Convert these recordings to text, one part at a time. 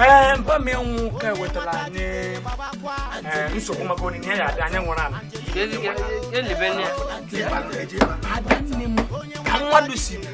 ee mba mmịnwụ ka ewetara anyị ee, nsogbu maka onyinye ya adị anyị nwụrụ anụ adanne m ka mmadụ si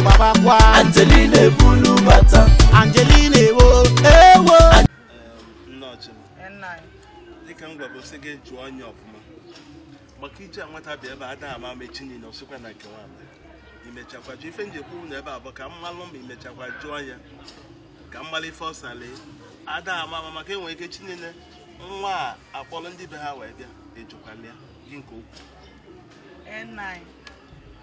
gbabakwa Angelina ebulu bata Angelina ewo ewo nne ọchịma Nna anyị. dịka m gwara sị gị jụọ nya ọfụma maka ije nwata bịa ebe a ada ama ama echi niile ọ sịkwa na nke nwanyị imechakwa jụ ife m ji ekwu na ebe a bụ ka m malụ ma imechakwa jụọ ya ka m malụ ife ọ salị ada ama ama maka enwere ike echi niile nwa a akpọrọ ndị be ha wee bịa ejụkwala ya gị nke okwu Ee, nna anyị.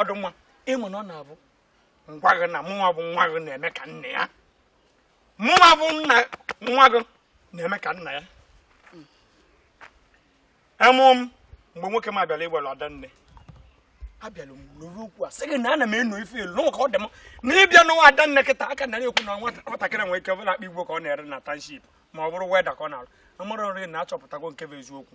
ọdụ nwa ịmụ na ọ na-abụ ngwa gị na mụnwa bụ nwa gị na-eme ka nna ya mụnwa bụ nna nwa gị na-eme ka nna ya emụ m mgbe nwoke m abịala ịgbara Adanne abịala m lụrụ okwu a sị gị na ana m eno ife elu n'ụka ọ dị m na ịbịa nụwa Adanne kịta a ka na-ekwu na nwatakịrị nwere ike bụrụ akpa igbo ka ọ na-ere na township ma ọ bụrụ welder ka ọ na-arụ amara nri na achọpụtago nke bụ eziokwu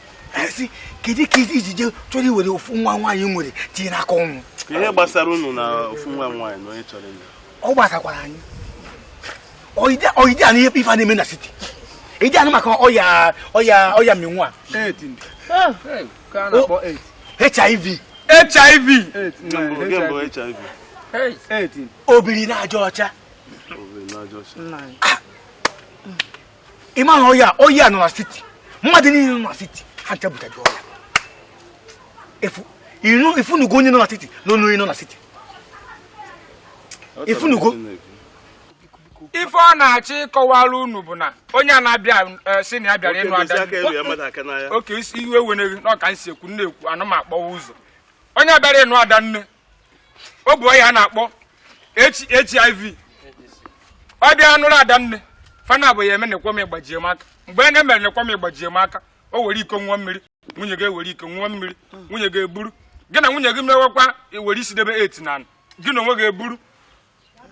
esi kedu ka iji je chọrọ iwere ofu nwa nwaanyị i nwere tinye n'aka ọnwụ ihe gbasara unu na ofu nwa nwaanyị na onye chọrọ ịlụ ọ gbasakwara anyị ọ ị dị anụ ife a na-eme na city ị dị anụ maka ọya ọya ọya mmịnwụ a hiv hiv obiri na aja ọcha ị ma na ọya ọya nọ na city mmadụ niile nọ na city ha ncha bucha gị ọya efu inu ị fụnụgo onye nọ na city na onye nọ na city ị fụnụgo ife ọ na-achọ ịkọwara unu bụ na onye a na-abịa eh, sị na ya bịara ịnụ ada oke isi iwe ewena gị ọ ka m si ekwu na-ekwu ana m akpọwa ụzọ onye bịara ịnụ Adanne o bu ọya a na-akpọ hiv ọ bịa nụrụ adanne fana bụ ya eme na-ekwe m ịgbajie m aka mgbe a na-emere na-ekwe m ịgbajie m aka o were iko ṅụa mmiri nwunye gị ewere iko ṅụa mmiri nwunye gị eburu gị na nwunye gị mewekwa ewere isi debe eti na gị na onwe gị eburu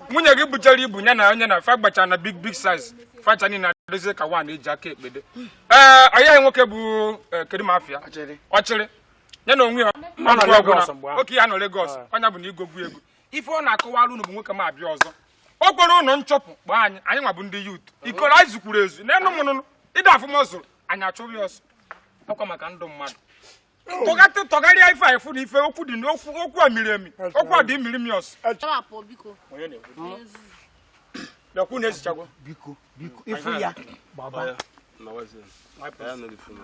nwunye gị buchara ibu ya na onye na fa gbacha na big big size fa ncha niile adịzie ka one eji aka ekpe dee ọya nwoke bụ eh, kedu ma afịa ọchịrị ya na onwe ya ọ nọ Lagos mgbe ahụ. oke ya nọ Lagos Ah. ọnya bụ na igogwu ego ife ọ na-akọwara unu bụ nwoke ma abịa ọzọ o kwerọ unu nchụpụ kpọọ anyị anyịnwa bụ ndị youth ikoro anyị zukwuru ezu n'enu mụnụnụ ị da afụ ma zuru anyị achụ ya ọsọ ọkwa maka ndụ mmadụ tọgatị tọgharịa ife anyị fụ na ife okwu dị n'okwu okwu a miri emi okwu a dị omimi ọsọ Chọwa pụọ biko. Onye na-ekwu? Onye nzuzu. lekwu na ezichagwo biko biko ịfụ ya gbaba Nawazie. Anyị anọghị funu.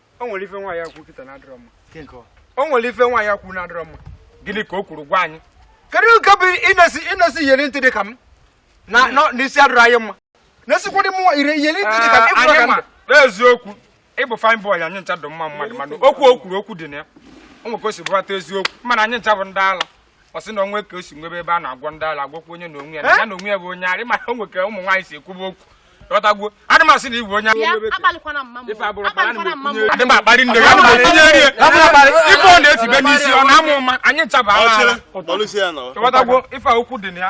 o nwere ife nwaanyị a kwu kịta na adịrọ mma o nwere ife nwaanyị a kwu na adịrọ mma gịnị ka o kwuru gwa anyị kedu nke bụ ịnesi ịnesi iyeri ntị dị ka m na nọ- na isi adịrọ anyị mma na-esikwa dị mụnwa ire iyeri ntị dị ka m Ee, ị fụrụ anyị ka m ma n'eziokwu ị bụ fine boy anyị ncha dị mma mmadụ mana okwu o kwuru okwu dị na ya o nwere ka o si bụrata eziokwu mana anyị ncha bụ ndị ala ọ sị na o nwe ka o si nwebe ebe a na-agwọ ndị ala agwọkwa onye na onwe ya na ya na onwe ya bụ onye ara mana o nwere ka ụmụ nwaanyị si ekwuba okwu ghọtago adị m asị na ị bụ onye adị m akparị nne ya ife ọ na-etibe n'isi ọ na-ama ụma anyị ncha bụ ala ghọtago ife okwu dị na ya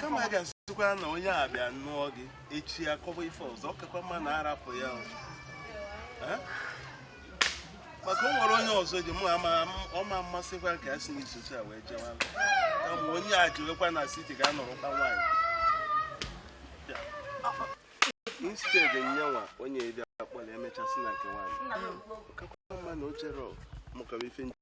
kama a ga-asịkwa na onye a bịa nụọ gị echi ya kọba ife ọzọ ọ kakwa mma na a rapụ ya maka o nwere onye ọzọ ji mụ ama ọma mmasịkwa ka a si n'isochi a wee jewa kama onye a jiwekwa na city ga-anọrọkwa nwaanyị instead nyanwa onye bịa kpọrọ emechasị na nke nwaanyị kakwa mma na o chere mụkọrọ ife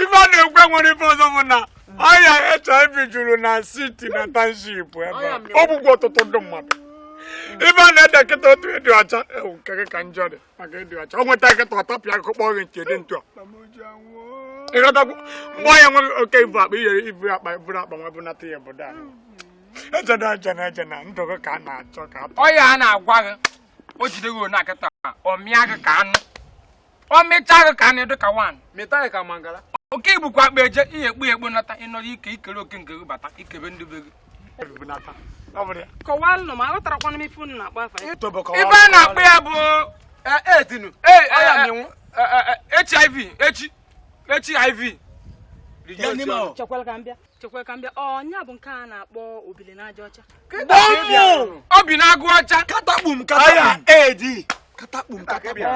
ife a na-ekwu e nwere ife ọzọ bụ na ọya hiv juru na city na township ebe a ọ bụkwa ọtụtụ ndị mmadụ ife a na-ede kịta otu ịdị ọcha ewu nke gị ka njọ dị maka ịdị ọcha o nweta kịta ọ tapịa akụkọ gị nke dị ntụ ị ghọtakwu mgbe ọya nweghị oke ibu akpa i jere ibu akpa buru akpa nwa bunata ya obodo a ejena ejena ejena ndụ gị ka a na-achọ ka ọya a na-agwa gị o jide gị na akịta ọ mịa gị ka anụ ọ mịcha gị ka anụ dịka wan mịta gị ka mangala oke ibukwa akpa eje ihe ekpu ekpu nata ị nọrọ ike i kere oke nke gị bata i kebe ndị be gị kọwaanụ m aghọtarakwana m ife unu na-akpọ afa ya ife a na-akpọ ya bụ edinu hiv echi echi hiv chekwala ka m bịa chekwa ka m bịa ọya bụ nke a na-akpọ obili n'aja ọcha obi na-agụ ọcha katakpum katakpum edi katakpum katakpum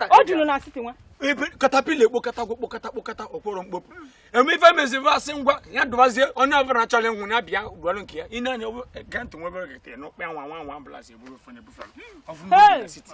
o juru na city nwa ebe caterpillar ekpo katagwo kpokata kpokata o kporo mkpopu eme ife meziri asị ngwa ya dụbazie onye ọbụla chọrọ ịnwụ ya bịa gbalụ nke ya ị na-anya ege ntị nwebere gete n'ụkpa nwa nwa nwa ambulance eburu ofe na-ebufe ọfụma city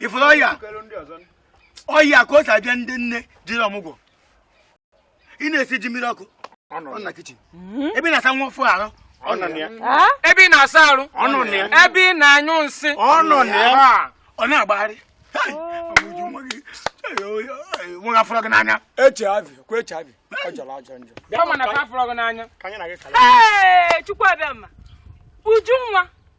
ị fụrụ ọya ọya ka o si abịa ndị nne jere ọmụgwọ ị na-esi ji mmiri ọkụ hmm? ebe ị na-asa nwa ọfụụ arụ ebe ị na-asa arụ ebe ị na-anyụ nsị ọ na-agbagharị nwa a fụrụ gị n'anya hiv kwa hiv ọ jọrọ ajọ njọ bịa mana ka a fụrụ gị n'anya ka anyị na gị kala ee chukwu abịama uju nwa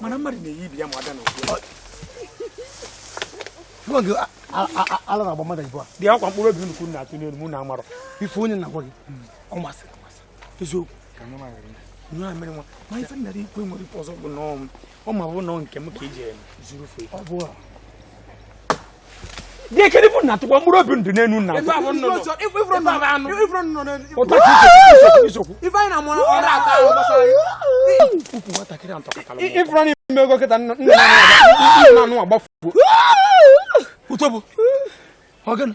mana mmadụ na-eyi ibi ya ma ada n'okwu ala na-agba mmadụ ibu a dị akwa mkpụrụ obi nnukwu na-atụ n'elu mụ na amarọ ife onye na-agwa gị ọ masịrị amasị eziokwu nwa mere nwa ma ife nna gị ikwe nwere ife ọzọ bụ n'ọnwụ ọ ma bụ na nke m ka iji e zuru ife dị ekele bụ na tụkwa mkpụrụ obi ndụ n'enu nna ife anyị na-amụ ọrụ ata ahụ gbasara ukwu nwatakịrị a ntọkọtara ị fụrụ na ime ego kịta nna anụ agbafuo utobo ọ gịnị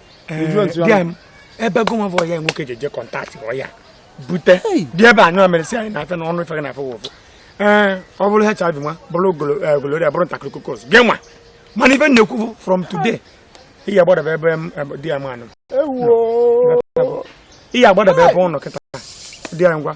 eh, ebe gụnwa bụ ya nwoke ji eje contact ọya bute dị ebe anyụ amerịsị anyị na-afe na ọnụ ife gị na-afe wofụ ee ọ bụrụ HIV nwa bụrụ gonorrhea eh, bụrụ staphylococcus gị nwa mana ife m na-ekwu bụ from today ị ya gbadaba ebe di ya manụ ị ya gbadaba ebe ụnụ kịta dị ya ngwa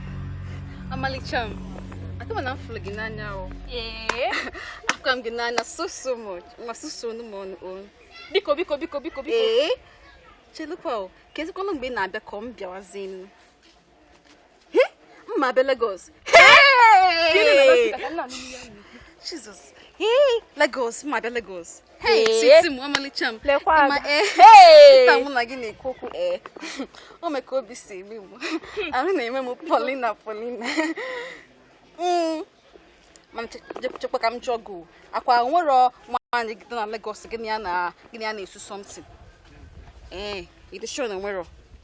Ọmalịcha m, akama na m fụlụ gị n'anya o. Ee. Afụkwa m gị n'anya so so much. Ngwa susuonụ m ọnụ o. Biko biko biko biko biko. Ee. Chelukwa o, kezikwanụ mgbe ị na-abịa ka ọ m bịawazi m. M ma abịa Lagos. Jesus. Ee, Lagos, m ma abịa Lagos. sweet m ọmalịcha m ma ee taa mụ na gị na-ekwu okwu ee o mee ka obi si eme m ahụ na-eme m polina polina mana chekwa ka m jụọ gị akwa nwere nwaanyị gị na Lagos gị na ya na-esu something ee ị dị sure na nwere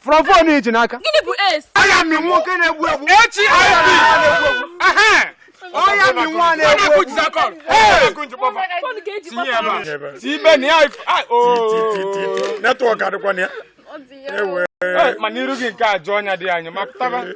from phone i ji n'aka gịnị bụ AIDS ọya mmịnwụ nke na-egbu egbu HIV ọya mmịnwụ na-egbu egbu tibe na ya network adịkwa na ya mana iru gị nke ajọ ọnya dị anyị ma pụtaba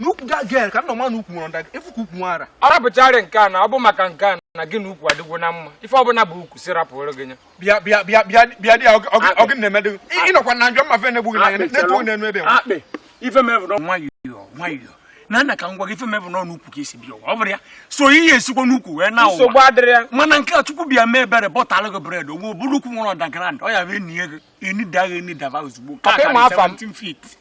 n'ukwu that girl ka nna ma na ukwu nwere underground ị fụ ka ukwu nwara arapụchara nke a na ọ bụ maka nke a na gị na ukwu adịgwo na mma ife ọbụla bụ ukwu si rapụrụ gị nya bịa bịa bịa bịa bịa dị ọ gị na-emedị ị nọkwa na njọ mmafe na-egbu gị n'anya na-eto na-enu ebe akpị ife mevụrụ nwayọọ nwayọọ na nna ka ngwa gị ife mevụ n'ọnụ ukwu ka esi bịa ọ bụrụ ya so ihe esikwa n'ukwu wee na ụwa mana nke a chukwu bịa mee ebere bọtalụ gị bread ogbo bụrụ ukwu nwere underground ọ ya bụ enie gị enidagha enidaba ozugbo ka 17 feet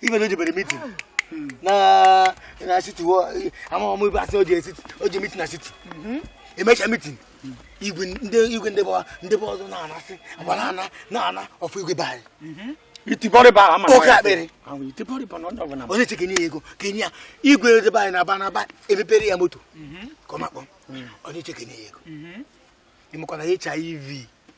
ibe na o jebere meeting na na city wo ama ọmụ ibe asị o ji city o je meeting na city emecha meeting igwe ndị igwe ndị bọwa ndị bọwa ọzọ na-anasị agba na-ana na-ana ọ fọ igwe be anyị iti bọrịbọ ama Oke akpịrị. iti bọrịbọ na onye ọbụla onye che kenye ya ego kenye ya igwe ndị be anyị na-aba na-aba emepere ya moto ka ọ makpọ onye che kenye ya ego ị makwa na HIV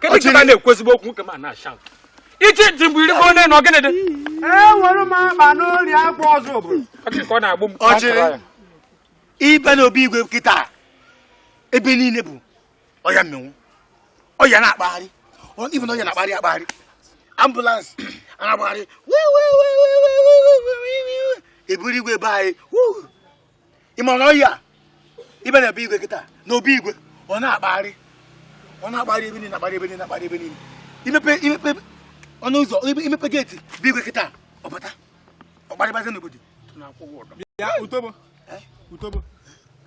kedu ka na-ekwu ezigbo okwu nke ma na-acha ichi ntị mgbe iri goo nọ gịnị dị enwere m akpa n'ori akwa ọzọ obodo ka ọ na-agbụ m ọjịrị ibe na obi igwe kịta ebe niile bụ ọya mmịnwụ ọya na-akpagharị ibe na ọya na-akpagharị akpagharị ambulance na-agbagharị eburu igwe be anyị ị ma na ọya ibe na be igwe kịta na obi igwe ọ na-akpagharị ọ na-akpagharị ebe niile na-akpagharị ebe niile na-akpagharị ebe niile imepe imepe ọnụ ụzọ imepe geeti be igwe kịta ọ bata ọ gbarịbazi n'obodo bịa utobo utobo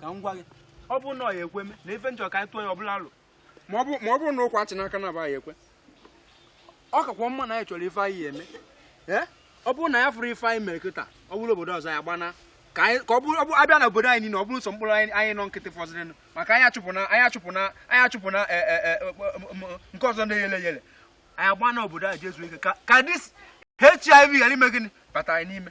ka m gwa gị ọ bụrụ na ọ ya-ekwe mee na ife njọ ka anyị tụọ ya ọbụla alụ ma ọ bụrụ na ụkwa achị n'aka na abaghị ekwe ọ kakwa mma na anyị chọrọ ife anyị ya-eme ọ bụrụ na anyị afụrọ ife anyị mere kịta ọ bụrụ obodo ọzọ anyị gbana ka ọ bụrụ abịa na obodo anyị niile ọ bụrụ sọ mkpụrụ anyị nọ nkịtị fọzịrịnụ maka anyị achụpụna anyị achụpụna anyị achụpụna e, e, e, nke ọzọ na-eyele yele anyị gbana obodo anyị je zuo ike ka this HIV ghara ime gịnị bata anyị n'ime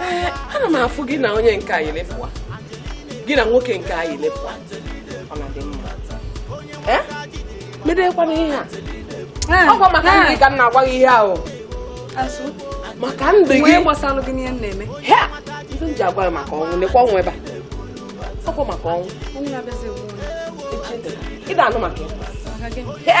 ee ana m afụ gị na onye nke anyị lepụwa gị na nwoke nke anyị lepụwa ọ na-adị mma ee medekwana ihe a ah, ọkwa maka ah. ndụ gị ka m na-agwa gị ihe ahụ maka ndụ gị ihe m ji agwa gị maka ọnwụ lekwa ọnwụ ebe a ọkwa maka ọnwụ ị na-anụ maka ya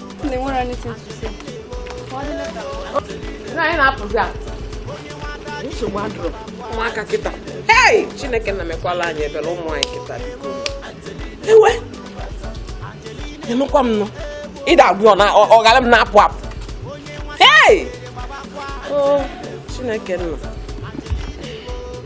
ụmụaka kịta hei chineke nna mekwaalụ anyị ebere ụmụ anyị kịta ewe ịnụkwa m nụ ịda agwụ ọ na ọ ghara m na-apụ apụ hei o chineke nna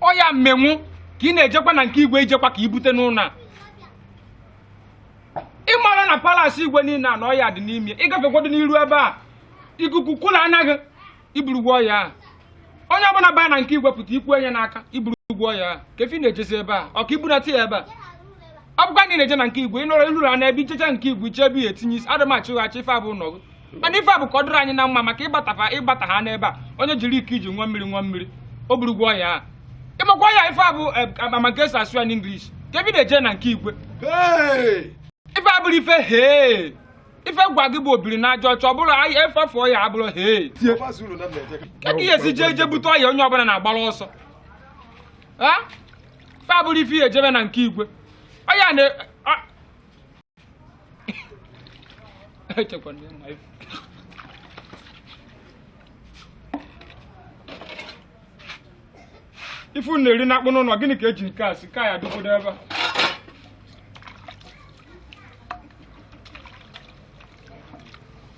ọya mmịnwụ ka ị na-ejekwa na nke igwe ijekwa ka ibute n'ụlọ a ị mara na palace igwe niile a na ọya dị n'ime ịgafekwado n'iru ebe a ikuku kụla n'ahụ gị iburugwo ọya a onye ọbụla baa na nke igwe pụta ikwe ya n'aka iburugwo ọya a ka efi na-ejezi ebe a ọ ka ibunata ya ebe a ọ bụkwa na ị na-eje na nke igwe ị nọrọ iruru a na ebe ichecha nke igwe iche ebe ya etinye isi adịmachị ụghachi ife abụ nọgụ mana ife a bụ ka ọ dịrị anyị na mma maka ịgbatafa ịgbata ha n'ebe a onye jiri iko iji ṅụa mmiri ṅụa mmiri o burugwo ọya a ịmakwa ya ife a bụ eh, maka esi asụ ya n'English ka ebi na-eje na nke igwe ife a bụrụ ife hee ife gwa gị bụ obiri n'aja ọcha ọ bụrụ anyị efefe ọya abụrụ hee ka ihe esi jee je bute ọya onye ọbụla na-agbara ọsọ ife a bụrụ ife ihe ejebe na nke igwe ọya na echekwa na ị ma ife ife unu na-eri na-akpụ n'ụlọ gịnị ka e ji nke a si ka ya dịkwudo ebe a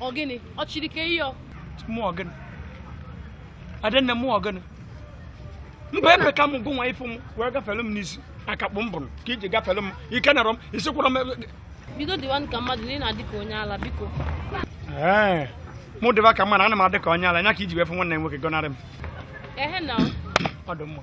ọ gịnị ọ chiri ka ihe ọ mụ ọ gịnị adanne mụ ọ gịnị mba ebe ka m gụnwa ị fụ m wee gafere m n'isi akakpọ m bụrụ ka i ji gafere m i kenero m ị sịkwurọ m ebe- bido dịwa ka mmadụ na ị na-adị ka onye ala biko Ee, mụ dịba ka mmadụ ana m adị ka onye ala nya ka i ji wee fụ nwanne m nwoke gọnarị m ehe na ọ dị mma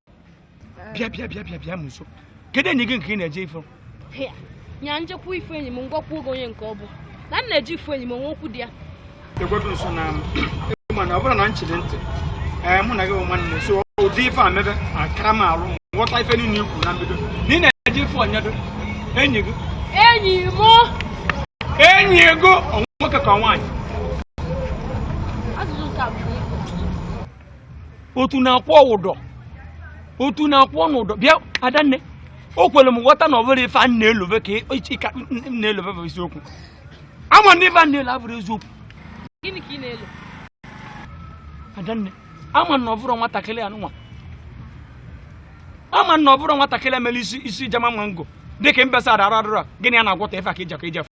bịa bịa bịa bịa bịa m nso kedu enyi gị nke ị na-eje ịfụ nya m jekwa ịfụ enyi m m gwakwa gị onye nke ọ bụ na m na-eje ịfụ enyi m o nwe okwu dị ya egwego nso na mana ọ bụrụ na m chiri ntị ee mụ na gị bụ nwanne so ụdị ife a mebe akara m alụ m ghọta ife niile i kwu na mbido na ị na-eje ịfụ onyedo enyi gị enyi m enyi gị ọ nwoke ka nwaanyị otu na-akwụ ụdọ otu na-akwụ ọnụ ụdọ bịa adanne o kwere m ghọta na ọ bụrọ ife a na-elove ka ịka m na-elove bụ eziokwu ama m na ife m na-elo abụrọ eziokwu gịnị ka ị na-elo adanne ama m na ọ bụrọ nwatakịrị anụnwa ama m na ọ bụrọ nwatakịrị mere isi isi jama mango dịka mbesa adara adara gịnị a na-agwọta ife a ka i jekọ ije fụ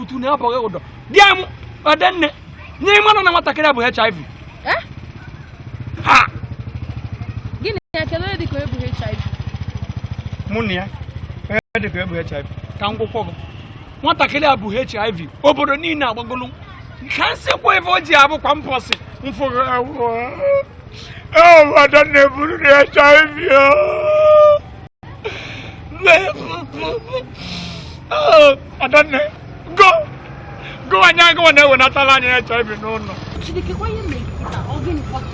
utu na abụghị ụdọ di m adanne nya ị marọ na nwatakịrị bu hiv eh? ha gịnị ya kedu onye dịka o bu hiv mụ na ya onye dịka o bu hiv ka m gwakwọ gị nwatakịrị a bu hiv obodo niile agbagolu ka m sikwa ebe o ji abụkwa mpọsị mfụ adanne buru na hiv adanne go go anyị agụwa na-ewenatala anyị HIV n'ụlọ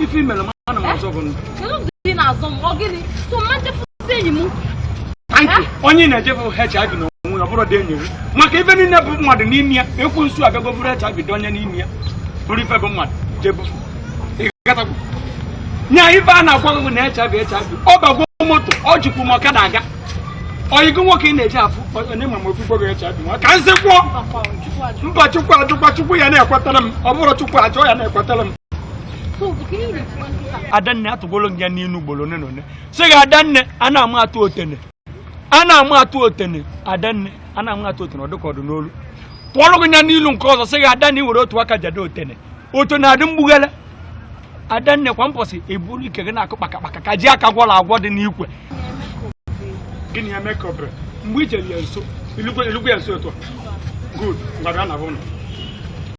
ife i mere m ana m azọ gị ndụ onye ị na-eje fụ HIV na onwe ọ bụrọdị enyi gị maka ife niile bụ mmadụ n'ime ya ekwensu abịago buru HIV tinye n'ime ya buru ife bụ mmadụ je bufu nya ife a na-agwa gị na HIV HIV ọ bagwo moto o jikwu m ọkada aga oyi gị nwoke ị na-eje afụ onye ma ma o bufee gị HIV nwa ka m si kwuo mba chukwu ajụkwa chukwu ya na-ekwetara m ọ bụrọ chukwu ajụ ya na-ekwetara m adanne atụgolo m ya n'inu ugboro one na one sị gị adanne a na-ama atụ otene a na-amụ atụ otene adanne a na-amụ atụ otene ọdụka ọdụ n'olu tụọrọ gị ya n'ilu nke ọzọ sị gị adanne i were otu aka jade otene otene adị mgbughele adanne kwa mposi i buru ike gị na-akụ kpakakpaka ka ji aka gwọrọ agwọ dị n'ikwe gịnị ya mekọbre mgbe i chere ya nso i lugwe ya nso otu a good ngwa na bụ ụlọ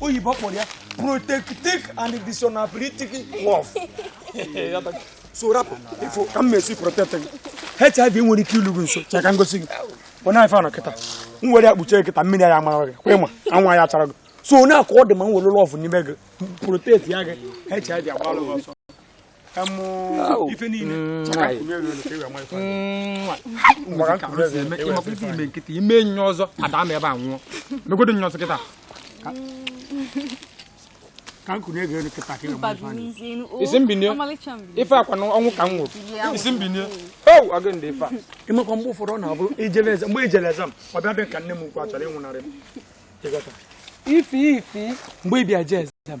oyibo kpọrọ ya protectic and dishonorabilitic love so rapụ ifo ka m mesi protect gị hiv nwere ike ilu gị nso chee ka m gosi gị onye ife anọ kịta m were ya kpuchie kịta mmiri ya amara gị kwa ịma anwụ ya chara gị so onye ka ọ dị ma m were love n'ime gị protect ya gị hiv agbalụ gị ọsọ ife niile i me kịta i me enyi ọzọ ada ama ebe a nwụọ megodo enyi ọzọ kịta ị sị m binye ife akwa na ọnwụ ka m nwụrụ ị sị m binye o aga ndị ife a ịmakwa mgbe ụfọdụ ọ na-abụrụ i jele exam mgbe i jele exam ọ bịa dị ka nne m ukwu a chọrọ ịnwụnarị m ife ife mgbe ị bịa jee exam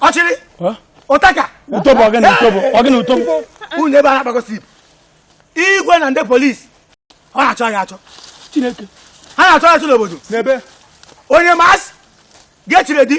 ọ chịrị ụtaka ụtọbụ ọgịnị ụtọbụ ọgịnị ụtọbụ unu ebe a na-akpakọsị igwe na ndị police ọ na-achọ ya achọ chineke ha na-achọ ya achọ n'obodo n'ebe on your marks get ready